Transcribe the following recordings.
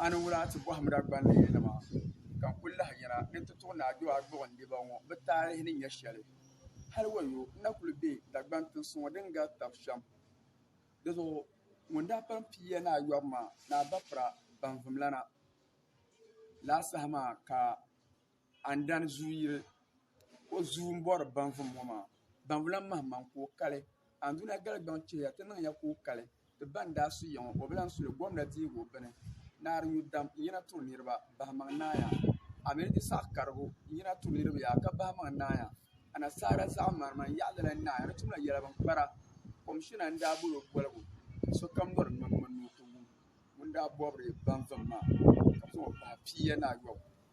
A ni wula ti bɔhimd a gbanlihunima, ka n kul lahi yɛra ni n ti tuɣ Naa Jɔaa gbuɣindiba ŋɔ bɛ taalihi ni nyɛ shɛli. Hal wayo, n na kul be Dagbaŋ tinsi ŋɔ din gari tab shɛm. Dizuɣu ŋun daa pam pii ya ni a yɔbu maa ni a bapira banvumlana la saha maa ka A ni dani zuu yiri o zuu m-bɔri Banvu ŋɔ maa, Banvu lan mahi maŋ ka o kali. Anduna Galigbaŋ chihiya ti niŋ ya ka o kali, ti ba n-daa su ya ŋɔ o bi lan su li, gomda dihigu bini naa di yu dam n-yina turi niriba bahimaŋ naaya. A mi ni ti saɣi karigu n-yina turi niriba yaa ka bahimaŋ naaya. Anasaara zaɣimarima n-yaɣi lala naaya ni tumla yɛla bini kpara. Komishina n-daa bol o boligu ka sokam nyɔri nyɔnyɔ ni o ti wum ŋun daa bɔbiri Banvum maa ka zaŋ o pahi piiya ni ayɔbu.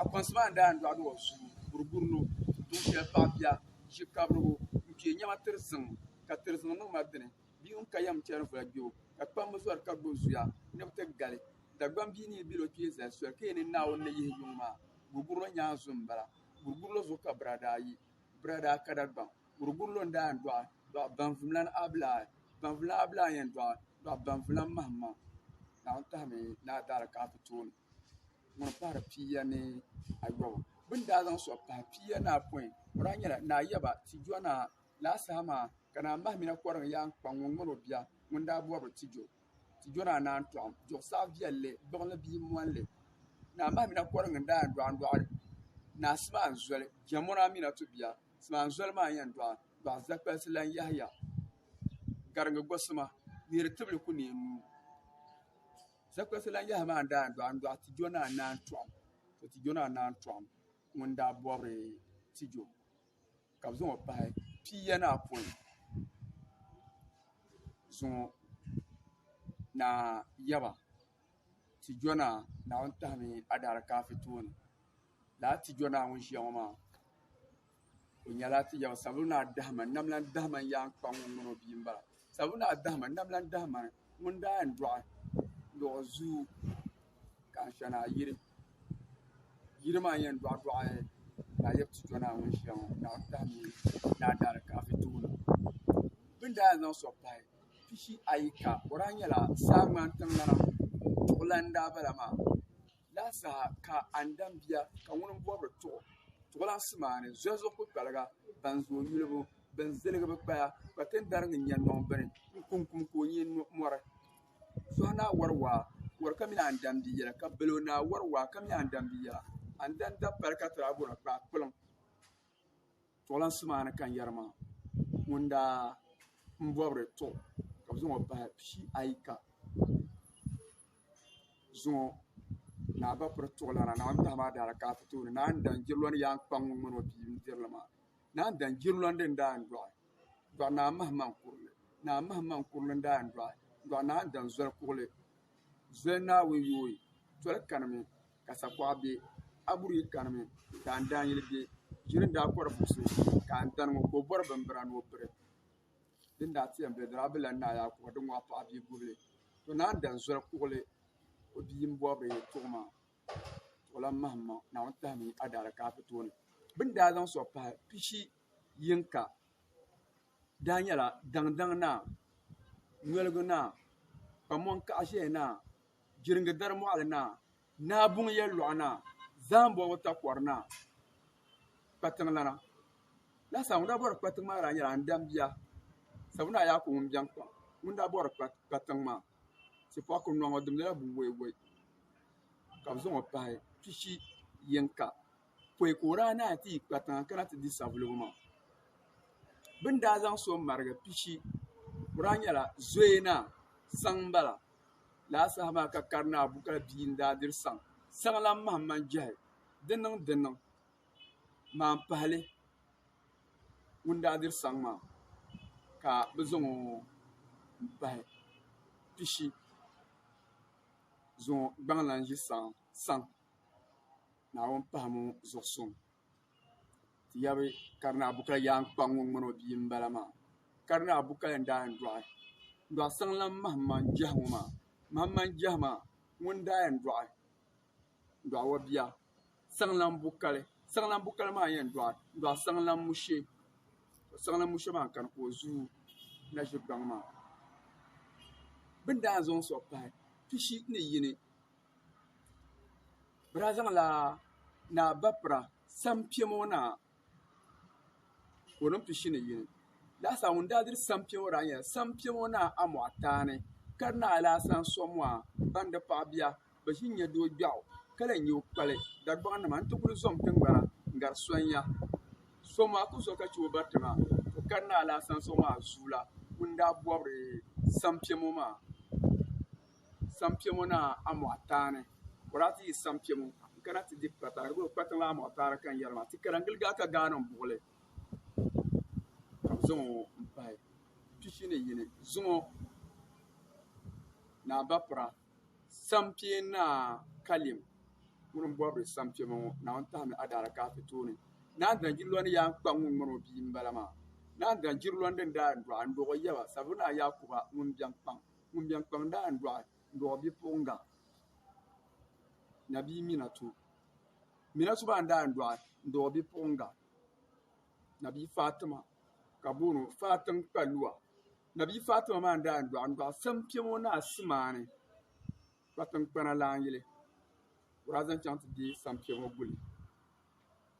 Akɔnsi maa daa n dɔɣi dɔɣi zuu buruburi lo tuun shɛli paɣa bia ʒi kabirigu n kpee nɛma tiri ziŋ ka tiri ziŋ niŋ ma dini bia ŋun ka yɛm chɛni voli gbɛbu ka kpambi zɔri ka gbubi zuya ni bi ti gali Dagbamb bia ni yi bɛ o kpee zali soli ka yɛn niŋ Naawuni ni yihi yuŋ maa buruburi lo nyaan zu m-bala buruburi lo zuɣu ka bira daa yi bira daa ka Dagbaŋ buruburi lo n daa yɛn dɔɣi dɔɣi baŋvumlana abilaa baŋvumlana abilaa n yɛn dɔɣi dɔɣi baŋvumlana mahimmaŋ Naawuni tahimi ni a daara ka a ti tooi ŋun pahiri pia ni ayɔbu bɛ ni daa zaŋ sɔɣi pahi pia ni apɔin o daa nyɛla ni ayaba tijɔŋ ni laasaha maa ka naa mahimina kɔrim yaa n-kpaŋ ŋun ŋmari o bia ŋun daa bɔrila tijɔ tijɔ ni a ni a ni tɔɣim duɣisaɣ viɛlli gbuɣinli bia m-mɔnli naa mahimina kɔrim n-daa yɛn dɔɣi n-dɔɣi naa Simaan Zoli Jɛmoni Aminatu bia Simaan Zoli maa n-yɛn dɔɣi dɔɣi Zakpalisi lan Yɛhiya Gariŋ Gosima Neeri Tibili ku neei nuu. Zakpasi lan yahi maa n-daa dɔɣi n-dɔɣi Tijo ni Anaan Tɔɣim. To Tijo ni Anaan Tɔɣim ŋun daa bɔbiri Tijo ka bɛ zaŋ o pahi piiya ni apɔin zuŋɔ ni a yaba Tijo ni Naawuni tahimi Adaarikaafi tooni. Lala Tijo ni ŋun ʒiya ŋɔ maa. O nyɛla ti yaw sabulu naa dahima namlan dahima n yaan kpa ŋun ŋun o bia m-bala. Sabulu naa dahima namlan dahima ŋun daa yɛn dɔɣi luɣ zuu ka ansha naa yiri. Yiri maa yɛn dɔɣi dɔɣi ka a yab ti tɔ naa ŋun ʒia ŋɔ ka a dahi mi ni a daari kaafi tuuni. Bɛ ni daa yɛn zaŋ sɔɣi pahi pishi ayi ka o daa nyɛla saa ŋmani tiŋgbana duɣilan n-daa bala maa. Lahi saha ka a ni dam bia, ka ŋuni m-bɔbiri tuɣu tuɣilansi maa ni zɔhizuɣu kpukpaliga ban zooi yulibu, bɛn ziligi bɛ kpaya, ka ti ni dari ŋun nya nɔŋ bini n-kum kum ka o nyin mɔri. Zɔhi naa wari waa, wari ka mi a ni dam bia yɛla, ka balo naa wari waa ka mi a ni dam bia yɛla, a ni dam dabipali ka ti daa bɔri kpaakpuliŋ. Tuɣilansi maa ni kan yɛri maa, ŋun daa m-bɔbiri tuɣ ka bɛ zaŋ o pahi pii ayi ka zaŋ o ni a ba piri tuɣilana, Naawuni tahi maa daala ka a ti tooni naan daŋ jirilɔni yaan kpaŋ ŋun ŋmani o bia n-diri li maa. Naan daŋ jirilɔni din daa yɛn dɔɣi dɔɣi naa mahimaŋ kurili, naa mahimaŋ kurili n-daa yɛn dɔɣi dɔɣi naan daŋ zoli kuɣili. Zoli Naawuni yooi, toli kanimi ka sakuɣa be, aburii kanimi ka andaanyili be, ʒiri n daa kɔri buɣisi ka andani ŋɔ ka o bɔri bimbira ni o piri, di ni daa ti yɛn be dira a bi lan naai a kuɣa di ŋɔɣu paɣa bia gubili, to ni andani zoli kuɣili o bia m-bɔri di tuɣima tuɣilan mahimma Naawuni tahimi a daalikaafitooni, bɛ ni daa zaŋ sɔɣi pahi pishi yinka. daa nyɛla daŋdaŋ naa nyoligu naa Kamuŋ kaɣa ʒɛya naa jiringi dari moɣali naa naa buŋ yɛltɔɣa naa zaham bɔbigi takori naa kpatiŋ lana laasabu ŋun daa bori kpatiŋ maa daa nyɛla n daŋ bia sabu naa yaa ku ŋun biɛni kpaŋ ŋun daa bori kpatiŋ maa tipaku noo ŋɔ di nyɛla buwɛiwɛi ka bi zaŋɔ pahi pishi yinga pɔi ka o daa naai ti yi kpa tiŋa kana ti di savelugu maa bɛ ni daa zaŋ so m-marigi pishi o daa nyɛla zoya naa saŋ m-bala lala saha maa ka Karinaa Abubakar bia n-daa diri saŋ saŋ lan mahim man jɛhi di niŋ di niŋ maa m-pahi li ŋun daa diri saŋ maa ka bɛ zaŋ o m-pahi pishi zaŋ o gbaŋ lan ʒi saŋ. Naawuni pahimi ŋɔ zuɣu suŋ ti yabi Karinaa Buka yaankpaŋ ŋun ŋmani o bia m-bala maa. Karinaa Buka yɛn daa yɛn dɔɣi dɔɣi saŋlan Mahamman Jiahi ŋɔ maa. Mahamman Jiahi maa ŋuni daa yɛn dɔɣi dɔɣi o bia Saŋlan Bukali. Saŋlan Bukali maa yɛn dɔɣi dɔɣi Saŋlan Mushe. Saŋlan Mushe maa n-kani ka o zu na ʒi kpaŋ maa. Bɛ daa zaŋla Naa Bapira Sampia Moo Naa ka o niŋ pishi ni yini. Lahisaa ŋun daa diri Sampia ŋɔ daa nyɛla Sampia Moo Naa Amuataani ka di naai lahi saŋ Soamuaa ban di paɣ bia bi ʒi n-nyɛ doo gbiɛɣu ka lahi nya o kpali Dagbaŋnima nti kul zom tiŋgbana n-gari Sonia. Soamuaa kul zo ka chɛ o bariti maa tɔ ka di naai lahi saŋ Soamuaa zuula ŋun daa bɔbiri Sampia Moo maa. Sampɛmo ni amoɣ taani boraɣa ti yi sampɛmo n kana ti di kpatiŋ di boli kpatiŋ la amoɣ taani ka n yɛri maa ti kara n gili gaa ka gaa niŋ buɣuli ka bi zaŋ o n pahi pishi ni yini zuŋɔ ni a bapira sampee naa kalɛm ŋuni n bori sampɛmo ŋɔ naawuni tahimi adaaraka ti tooni naan dana jiri lɔni yaa n kpa ŋun ŋmani o bia n bala maa naan dana jiri lɔni din daa n dɔɣi n dɔɣi o yaba sabi naa yaakuba ŋun biɛn kpaŋ Ŋun biɛni kpaŋ daa n-dɔɣi n-dɔɣi bipuɣiŋga na bia Minatu. Minatu baa n-daa n-dɔɣi n-dɔɣi bipuɣiŋga na bia Fatima ka bɛ booni o Fatim Kpaluwa. Na bia Fatima maa n-daa n-dɔɣi n-dɔɣi Saŋkpɛma o naa Simaani kpatiŋkpana laanyili o daa zaŋ chaŋ ti deei Saŋkpɛma guli.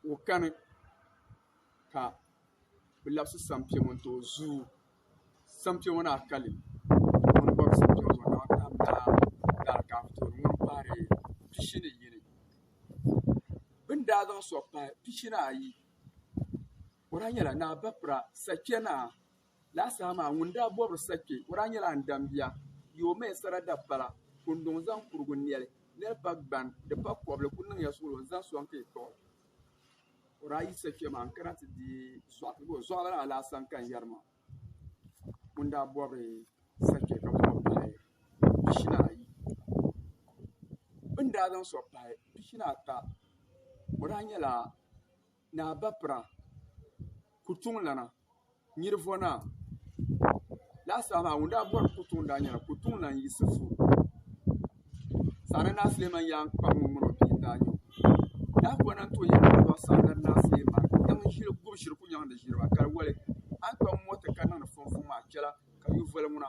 ka o kani ka bɛ labisi sampɛŋɔ n-ti o zuyu sampɛŋɔ maa kali bɛ ni daa zaŋ sɔɣi pahi pishi ni ayi o lahi nyɛla ni a ba pira sakpɛna Laa saha maa ŋun daa bɔbiri sa kpe, o daa nyɛla n dambia. Yi o maya sara dapala, kunduŋ zaŋ kurigu nɛli, nɛli pa gban, di pa kɔbili ku niŋ ya suɣulo n-zaŋ sɔŋ ka yi kpuɣi o daa yi sa kpe maa n-kana ti di zɔɣu ti bɔ zɔɣulana alaasa n-ka n-yɛri ma ŋun daa bɔbiri sa kpe ka bɔbi pahi pishina ayi. Bɛ ni daa zaŋ sɔɣi pahi pishina ata, o daa nyɛla Naa Bapira Kutuŋlana Nyirivɔnaa lahi saha maa ŋun daa bɔri Kutuŋ daa nyɛla Kutuŋlan Yisifu Saana Naa Suleiman Yankpa ŋun ŋuna o bia n-daa nyɛ o. Daa kɔŋ na n-ti o yɛli ni o dɔɣi Saana Naa Suleiman yiŋ ʒili gubu shiri Kunyɛŋ ni ʒiri ba kali wali a ni kpam mɔti ka niŋdi fumfum maa chɛla ka yuvoli ŋuna.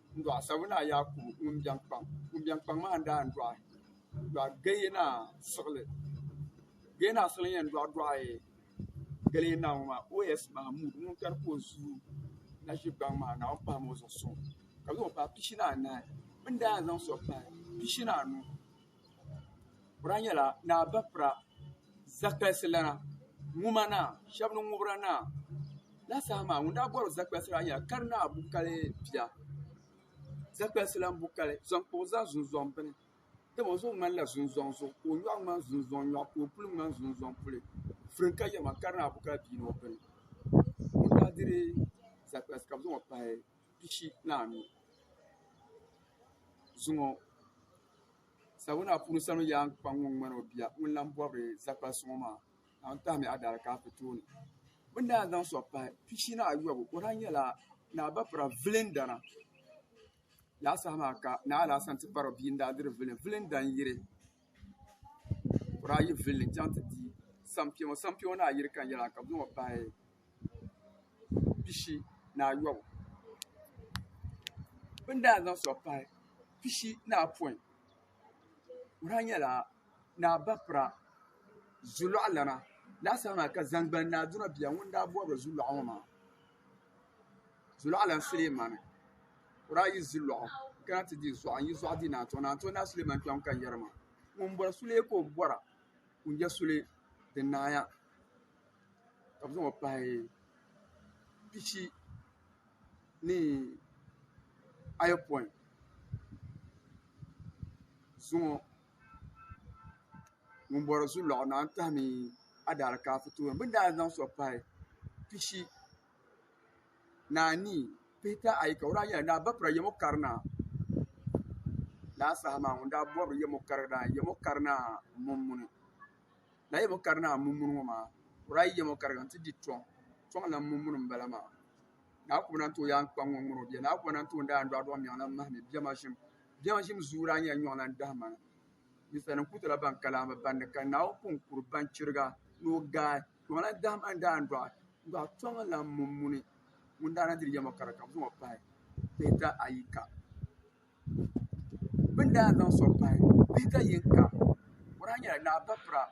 N-dɔɣi sabu naa Yaakubu ŋun biɛŋ kpaŋ. Ŋun biɛŋ kpaŋ maa n-daa n-dɔɣi dɔɣi Gayɛ naa siɣili. Gayɛ naa siɣili yɛn dɔɣi dɔɣi Galiɛ naa ŋɔ maa OS Mahmud ŋun kani ka o zuui na ʒi gbaŋ maa Naawuni pahim o zuɣu suŋ ka zaŋ o paai pishi ni anahi. Bɛ ni daa yɛn zaŋ so paai pishi ni anu. Bura nyɛla Naa Bafra Zakpalsi lana Ŋuma naa, shɛba ni Ŋubra naa. Lala saha maa ŋun daa bɔri Zakpalsi lana nyɛla Kari Naa Bukali bia. Zakpalsi lana Bukali zaŋ kpa o zani zunzɔŋ bini. Dama o zuɣu ŋmanila zunzɔŋ zuɣu ka o nyɔɣu ŋmani zunzɔŋ nyɔɣu ka o puli ŋmani zunzɔŋ puli. Firim ka yɛli ma Kari Naa Bukali bia ni o bini. pishi ni anu zuŋɔ Savelugu Naa Puuni Salim Yaa n-kpa ŋɔ ŋ-ŋmani o bia ŋun lan bɔbiri Zakpal Suŋɔ maa naawuni tahi mi Adaalikaafɛ tooni bɛ ni daa zaŋ sɔɣi pahi pishi ni ayɔbu o daa nyɛla Naa Bapira vilindana laasaha maa ka Naa Alaasana ti kpari bia n-daa diri vilin vilinda n-yiri o daa yi villi n-chaŋ ti di sampia ŋɔ sampia ŋɔ ni a yiri ka yɛla ka bɛ zaŋ o paai pishi ni ayɔbu bɛ ni daa zaŋ so paai pishi ni apɔin o daa nyɛla ni a ba pira zulɔɣu lana laasabu maa ka zaŋgbani ni Aduna bia ŋun daa bɔbiri zulɔɣu ŋɔ maa. Zulaalan Sulemani ka o daa yi zi lɔɣu n kana ti di zuɣu n yi zuɣu di naanzuhi naanzuhi naa Sulemani kpɛm ka n yɛri maa ŋun bɔri suli ka o bɔra ka o nyɛ suli din naaya ka bi zaŋ o pahi pishi ni ayopɔin zuŋɔ. ŋun bɔri zuliɣu na n-tahimi adalikaafo tooni bɛ ni daa zaŋ so pahi pishi ni anii pihita ayi ka o daa yɛli ni a ba pira yɛm o kari na ni a saha maa ŋun daa bɔri yɛm o kari daa yɛm o kari ni a mumuni lala yɛm o kari ni a mumuni ŋɔ maa o daa yi yɛm o kari ka n-ti di tɔŋ tɔŋ lan mumuni m-bala maa ni a kuli lan tooi yaan kpaŋ ŋɔ ŋuni o bɛ ni a kuli lan tooi daai n dɔɣidɔɣi niɛŋ lan mahimi bɛma ʒim Biɛhiŋ ʒim zuyu daa nyɛla nyɔɣu lan dahi mana. Ninsalinim ku tɔla ban ka laamba bandi ka Naawuni pun kuri ban chiriga ni o gaai. Nyɔɣu lan dahi ma n-daandɔɣi, n-dɔɣi tɔŋlan mummuni. Ŋun daa na diri yɛm ŋɔ ka di ka bɛ zaŋ o pahi pihita ayi ka. Bɛ ni daa zaŋ so pahi pihita yin ka, o daa nyɛla Naa Bapira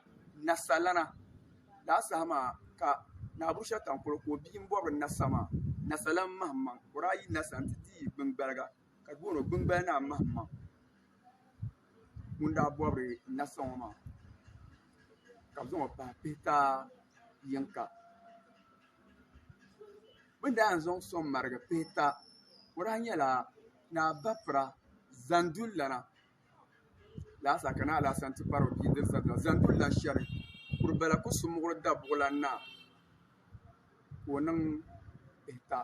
Nasalana. Lala saha maa ka Naa Bushatankolo ka o bia m-bɔbiri Nasa maa, Nasalam Mahimaŋ. O daa yi Nasa nti di yi biŋgbaliga. Ka booni o gbimbali naa mahimaŋ ŋun daa bɔbiri n na sɔŋ o maa, ka bɛ zaŋ o pahi pihikaa yiŋka. Bɛ ni daa yɛn zaŋ sɔŋ marigi pihika, o daa nyɛla Naa Bafra Zanduli lana. laasa ka naa Alasan ti kpari o bia diri zabila zaŋ duri la shɛri kuri bala ku su muɣiri dabuɣulan naa ka o niŋ pihita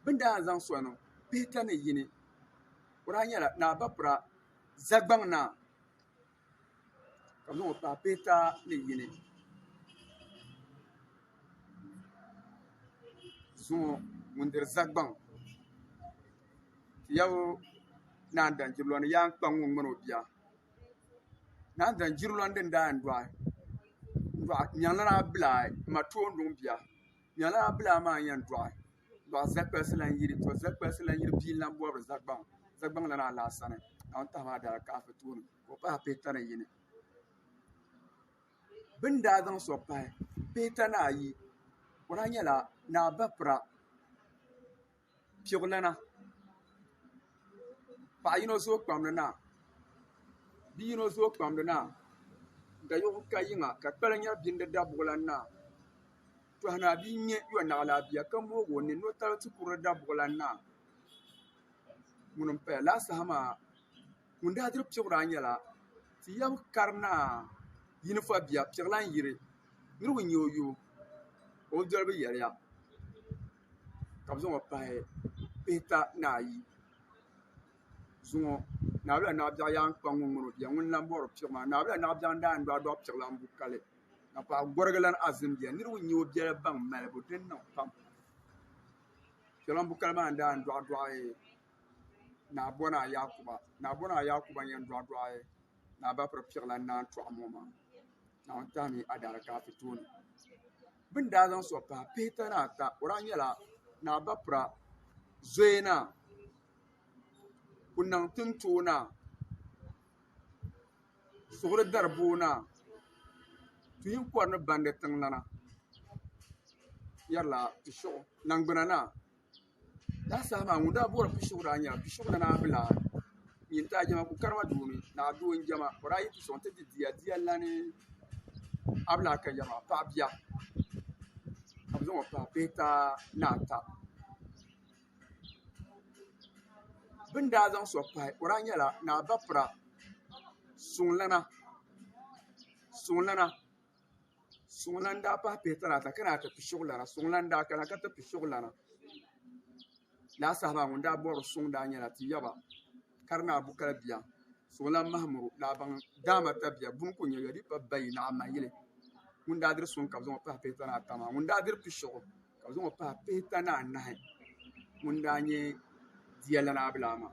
bɛ ni daa zaŋ sɔŋ niŋ pihita ni yini o daa nyɛla naa Bapira Zagbaŋ naa. ka zaŋ o paai Pita ni yini zuŋɔ ŋun diri Zagbaŋ Tiyabo Naa Danjirlɔni yaan kpa ŋun ŋmani o bia Naa Danjirlɔni din daa yɛn dɔɣi n-dɔɣi Nyaŋlana Abdulai m ma toonduŋ bia. Nyala bilaa maa n-yɛn dɔɣi dɔɣi Zɛkpɛsi lan yiri to Zɛkpɛsi lan yiri bia n-lan bɔbiri Zagbaŋ Zagbaŋ lan a laa sani ka n tahi maa daa kaafi tooni ka o pahi pihita ni yini bɛ ni daa zaŋ so pahi pihita ni ayi o daa nyɛla ni a ba pira piɣilana paɣa yino zooi kpamli naa bia yino zooi kpamli naa dayɔɣu ka yiŋa ka kpali nyɛri bini di dabuɣulan naa tɔhinaa bia n-nyɛ yɔnaɣilaa bia ka mooi o nini ni o taba ti kuri di dabuɣulan naa ŋuni m-paya lala saha maa ŋun daa diri piɣira nyɛla ti yab kari naa yini fa bia piɣilan yiri niriba n-nyɛ o yo o doli bi yɛliya ka bi zaŋɔ pahi pihita ni ayi zuŋɔ naawula ni abɛɣu yaan kpa ŋun ŋuni o bia ŋuni n lan bɔri piɣu maa naawula ni abɛɣu n daa yɛn dɔɣi dɔɣi piɣu lan bu kali ka paɣa gɔrigi lan azim bia niriba n nyɛ o biɛla baŋ malibu din niŋ pam piɣu lan bu kali maa n daa yɛn dɔɣi dɔɣi naa bɔraayi Yakuba naa bɔraayi Yakuba n yɛn dɔɣi dɔɣi naa Bapiri piɣu lan naan tɔɣi ŋɔ maa naawuni tahi mi adaarikaafi tooni. Bɛ ni daa zaŋ so pahi pihita ni ata, o daa nyɛla Naa Bapira zoya naa, Kunaŋ Tintoo naa, Suɣuri Dariboo naa, Tuhin Kɔri ni Bandi tiŋlana, Yɛrila Tishiɣu Naŋgbuna naa. Daa saha maa ŋun daa bɔri Pishigu daa nyɛla Pishigu ni naa Bilaa nyin ti Ajiɛma ku karima doo mini naa doo n-jɛma o daa yi ti sɔŋ ti di dia dia lani Abilaa ka yɛri maa paɣ bia ka bɛ zaŋ o paai bee taa ni ata bɛ ni daa zaŋ so pahi o daa nyɛla naa Bapira suŋlana suŋlana suŋ lan daa pahi pihitali ata ka naan ti pi suɣulana suŋ lan daa kana ka ti pi suɣulana laa saha maa ŋun daa bɔri suŋ daa nyɛla Tiyaba Karinaa Bukal bia Suŋlan Mahamuru Laabaŋ Daama Tabiya Buni Ku Nyɛ Yɔlipa Bayi Naɣimayili ŋun daa diri suŋ ka bɛ zaŋ o pahi pihitana ata maa ŋun daa diri pi suɣu ka bɛ zaŋ o pahi pihitana anahi ŋun daa nyɛ Diya Lana Abilaa maa.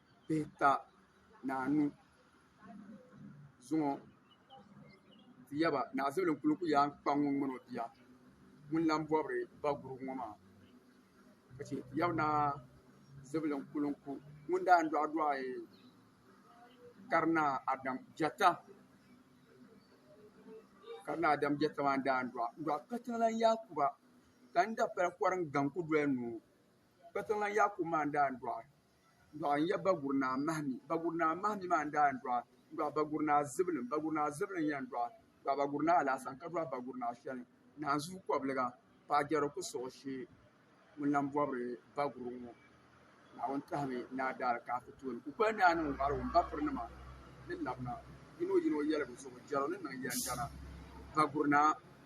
pihita ni anu zuŋɔ ti yaba naɣizubilim kuli ku yaan kpa ŋun ŋmani o bia ŋun lan bɔbiri ba gurubu ŋɔ maa ka chɛ ti yaba naɣizubilim kuli ku ŋun daa yɛn dɔɣidɔɣi karinaa Adam Biɛta karinaa Adam Biɛta maa n-daa yɛn dɔɣi n-dɔɣi katiŋlan Yaakuba ka n dapali kɔr n-gaŋ ku doli noo katiŋlan Yaakubu maa n-daa yɛn dɔɣi dɔɣi n-yɛb Baguri Naa Mahimi. Baguri Naa Mahimi maa n-daa yɛn dɔɣi n-dɔɣi Baguri Naa Zibilim. Baguri Naa Zibilim n-yɛn dɔɣi dɔɣi Baguri Naa Alasan ka dɔɣi Baguri Naa shɛli Naanzuu Kɔbiliga paɣ Jɛri ku suɣu shee ŋun lan bɔbiri Baguri ŋɔ. Naawuni tɔhimi ni a daali ka a ti tooi ni kukoli ni a niŋ wari wum bapirinima ni labina yino yino yɛligu zuɣu Jɛro ni niŋ yɛndana Baguri Naa.